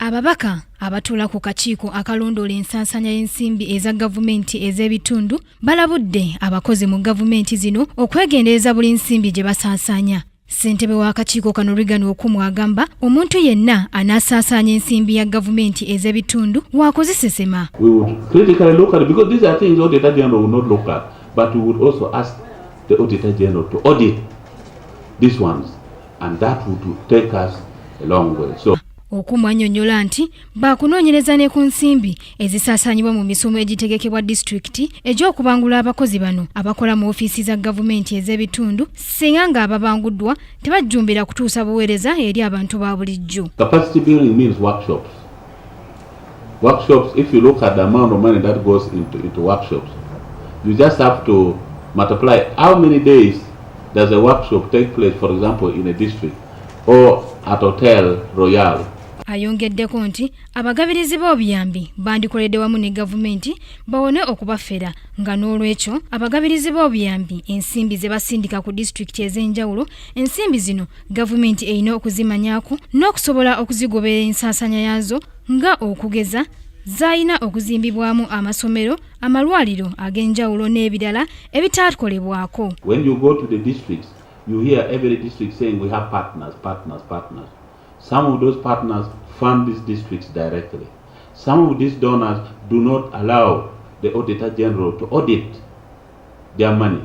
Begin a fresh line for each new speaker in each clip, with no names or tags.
Ababaka abatuula ku kakiiko akalondoola ensansanya y'ensimbi eza gavumenti ez'ebitundu balabudde abakozi mu gavumenti zino okwegendereza buli nsimbi gye basaasaanya ssentebe w'akakiiko kano rigan okumu agamba omuntu yenna anaasaasaanya ensimbi ya gavumenti ez'ebitundu waakuzisesema
This ones. And that would take us a long way. So Okumu annyonnyola
nti baakunoonyereza ne ku nsimbi ezisaasaanyibwa mu misomo egitegekebwa disitulikiti egy'okubangula abakozi bano abakola mu ofiisi za gavumenti ez'ebitundu singa ng'ababanguddwa tebajjumbira kutuusa buweereza eri abantu ba bulijjo
workshops if you look at the amount of money that goes into, into workshops you just have to multiply how many days does a workshop take place for example in a district or at hotel royale ayongeddeko
nti abagabirizi b'obuyambi bandikoledde wamu ne gavumenti bawone okubafera nga n'olwekyo abagabirizi b'obuyambi ensimbi ze basindika ku disitulikiti ez'enjawulo ensimbi zino gavumenti erina okuzimanyako n'okusobola okuzigoberera ensaasaanya yaazo nga okugeza zaalina okuzimbibwamu amasomero amalwaliro ag'enjawulo n'ebirala ebitaakolebwako Some
of those partners fund these districts directly. Some of these donors do not allow the Auditor General to audit their money.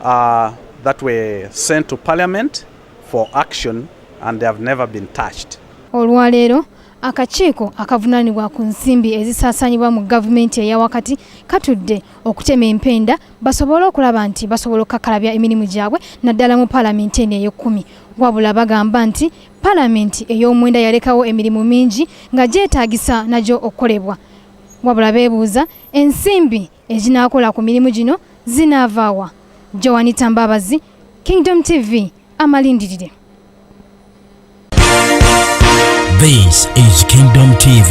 Uh, that were sent to parliament for action and they have never been touched. Olwaleero
akakiiko akavunaanibwa ku nsimbi ezisaasaanyibwa mu gavumenti eya wakati katudde okutema empenda basobole okulaba nti basobola okukakalabya emirimu gyabwe naddala mu paalamenti eno ey'ekkumi wabula bagamba nti paalamenti ey'omwenda yalekawo emirimu mingi nga gyetaagisa nagyo okukolebwa wabula beebuuza ensimbi eginaakola ku mirimu gino zinaavaawa joanita mbabazi kingdom tv amalindirire
This is Kingdom TV.